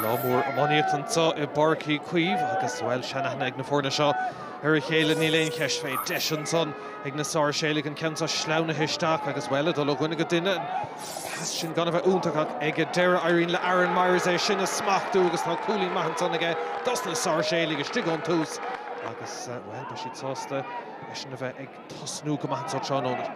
Lá mór iománaíochta anso i bPáirc Uí Chaoimh agus, bhuel, seanaithne ag na foirne seo ar a chéile, níl aon cheist fé. Deis ansan ag na Sáirséalaigh an ceann seo sleamhnaithe isteach agus, bhuel, ag dul ó dhuine go duine. An pas sin gan a bheith iontach ach ag an deireadh éiríonn le Aaron Myers é sin a smachtú agus tá cúilín maith ansan aige dos na Sáirséalaigh istigh ón tús agus, bhuel, beidh siad sásta eisean a bheith ag tosnú go maith anso tráthnóna.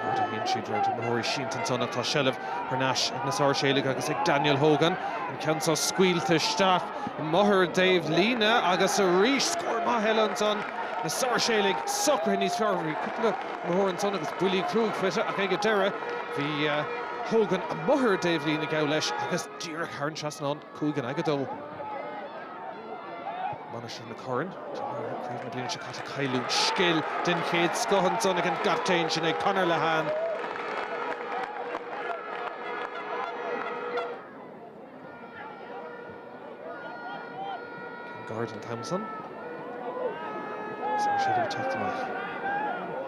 Mar a théann siad roimh imreoirí sínte ansan ach tá seilbh thar n-ais ag na Sáirséalaigh agus ag Daniel Hogan. An ceann seo scaoilte isteach amuigh ar an dtaobhlíne agus arís scór maith eile ansan. Na Sáirséalaigh socraithe níos fearr. Bhí cúpla imreoir ansan agus buillí cruaidh faighte ach ag an deireadh bhí Hogan amuigh ar an dtaobhlíne, ghabh leis agus díreach thar an trasnán. Cúig in aghaidh a dó, Mainistir na Corann, Craobh na bliana seo caite Cailleadh scil den chéad scoth ansan ag an gcaptaen sin ag Conor Lehane. Ceann gairid an t-am san agus na Sáirséalaigh ag teacht amach.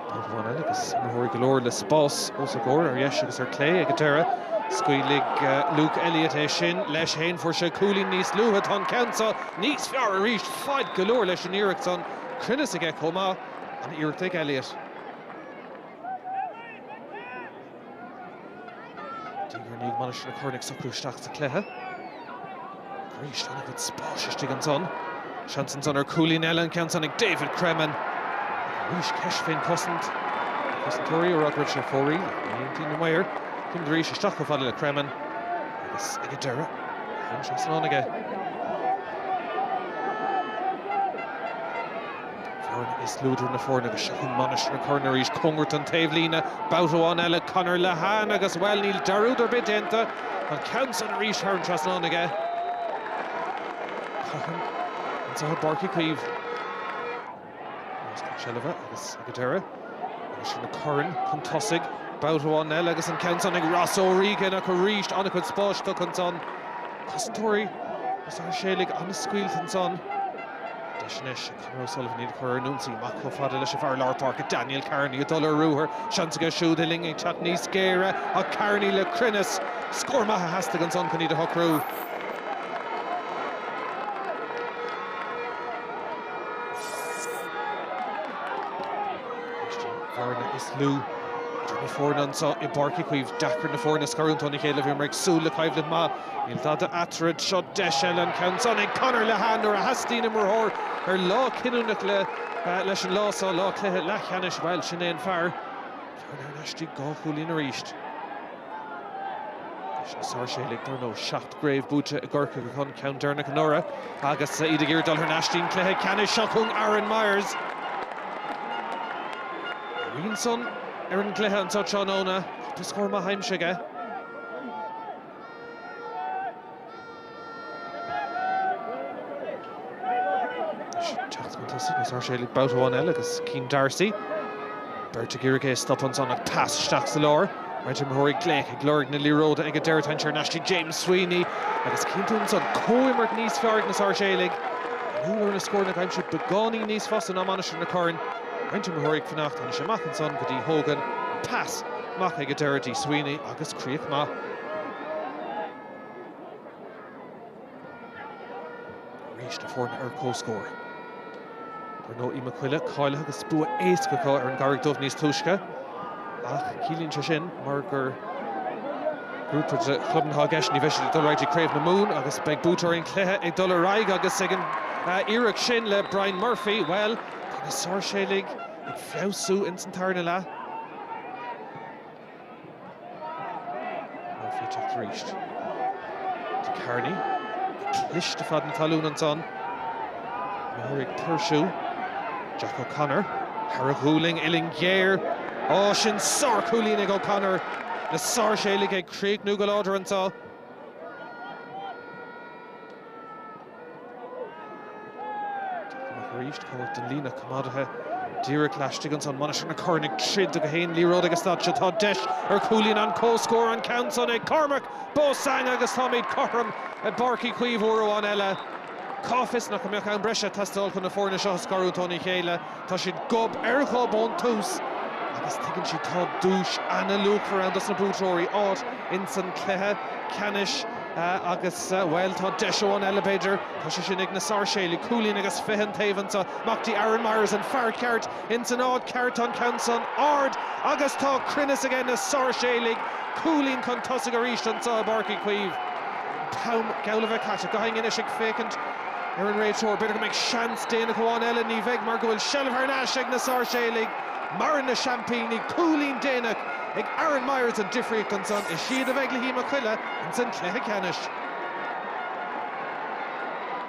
Babhta amháin eile agus imreoirí go leor le spás os a gcomhair ar dheis agus ar clé ag an deireadh. Scaoilfidh Luke Elliott é sin leis féin. Fuair sé cúilín níos luaithe. Tá an ceann seo níos fearr arís. Faid go leor leis an iarracht san. Cruinneas aige chomh maith. An-iarracht ag Elliott. Diaidh ar ndiaidh Mainistir na Corann ag socrú isteach sa chluiche. Arís an-chuid spáis istigh ansan. Seans ansan ar cúilín eile an ceann san ag David Cremen. Arís ceist fén chosaint. Na cosantóirí ag rá go raibh sé ar fóraoil ach ní aontaíonn na maoir. Ceann arís isteach chomh fada le Cremen agus ag an deireadh thar an trasnán aige. An bhearna is lú idir na foirne agus seo chugainn Mainistir na Corann arís. Cóngarach don taobhlíne. Babhta amháin eile Conor Lehane agus, bhuel, níl dearúd ar bith déanta. An ceann san arís thar an trasnán aige. Cothrom anso i bPáirc Uí Chaoimh. Más na seilbhe agus ag an deireadh. Mainistir na Corann chun tosaigh. Babhta amháin eile agus an ceann san ag Ross Ó Riagáin ach arís an-chuid spáis tugtha ansan. Cosantóirí na Sáirséalaigh an-scaoilte ansan. Deis anois ag Conor O'Sullivan iad a chur ar an ionsaí. Amach chomh fada leis an bhfear lár páirce, Daniel Kearney, ag dul ar ruathar. Seans aige siúd, an uillinn ag teacht níos géire ach Kearney le cruinneas. Scór maith a theastaigh ansan chun iad a shocrú. An bhearna is lú idir na foirne anso i bPáirc Uí Chaoimh. Deacair na foirne a scarúint óna chéile. Bhíomar ag súil le coimhlint maith. Níl tada eatarthu. Seo deis eile an ceann san ag Conor Lehane nuair a theastaíonn imreoir ar lá cinniúnach leis an lá seo, lá cluiche leathcheannais. Bhuel, sin é an fear. Bearna thar n-ais dtí dhá chúilín arís. Na Sáirséalaigh, dar ndóigh. Seacht gcraobh buaite i gCorcaigh acu an ceann deireanach anuraidh agus iad ag iarraidh dul thar n-ais dtí an cluiche ceannais. Seo chugainn Aaron Myers. A rian san ar an gcluiche anseo tráthnóna. Cúpla scór maith aimsithe aige. Teacht chun tosaigh na Sáirséalaigh babhta amháin eile agus Cian D'Arcy, beirt ag iarraidh é a stop ansan ach pas isteach sa lár. Roinnt imreoirí ag glaoch ag lorg na liathróide ag an deireadh, téann thar n-ais dtí James Sweeney agus cinnte ansan comhimirt níos fearr ag na Sáirséalaigh. Inniúil ar na scóranna a aimsiú beagáinín níos fusa ná Mainistir na Corann. Roinnt imreoirí ag fanacht anois amach ansan go dtí Hogan, an pas amach ag an deireadh dtí Sweeney agus críoch maith. arís na foirne ar comhscór. Ar ndóigh Uí Mac Coille cáilithe agus bua éasca acu ar an gCarraig Dhubh níos túisce ach ciallaíonn sé sin mar gur grúpa de chlubanna atá i gceist ní bheidh siad ag dul ar aghaidh dtí Craobh na Mumhan agus beidh buaiteoirí an chluiche ag dul ar aghaidh agus an iarracht sin le Brian Murphy. Bhuel, tá na Sáirséalaigh ag feabhsú ins an tarna leath. Murphy teacht arís. dtí Kearney cliste fad na talún ansan. Imreoirí ag tuirsiú. Jack O'Connor thar a ghualainn uillinn ghéar. Ó, sin sárchúilín ag O'Connor. Na sáirséalaigh ag críochnú go láidir anseo. Amach arís cóngarach don líne coimeádaithe díreach laistigh ansan. Mainistir na Corann ag troid do gach aon liathróid ag an staid seo. Tá deis ar chúilín an chomhscóir an ceann san ag Cormac Beausang agus táimid cothrom i bPáirc Uí Chaoimh uair amháin eile. Cá bhfios nach mbeadh am breise ag teastáil chun na foirne seo a scarúint óna chéile. Tá siad gob ar ghob ón tús agus tuigeann siad tá duais ana-luachmhar ann dos na buaiteoirí, áit ins an chluiche ceannais agus, bhuel, tá deis amháin eile b'fhéidir, tá sé sin ag na Sáirséalaigh. Cúilín agus fiche an taobh anseo. Amach dtí Aaron Myers, an fear ceart ins an áit cheart, an ceann san ard agus tá cruinneas aige. Na Sáirséalaigh, cúilín chun tosaigh arís anseo i bPáirc Uí Chaoimh. An t-am geall le bheith caite. Gach éinne anois ag féachaint. Ar an réiteoir, b'fhéidir go mbeidh seans déanach amháin eile, ní bheidh mar go bhfuil seilbh thar n-ais ag na Sáirséalaigh. Maireann na seaimpíní cúilín déanach ag Aaron Myers an difríocht ansan is iad a bheidh le hUí Mac Coille ins an cluiche ceannais.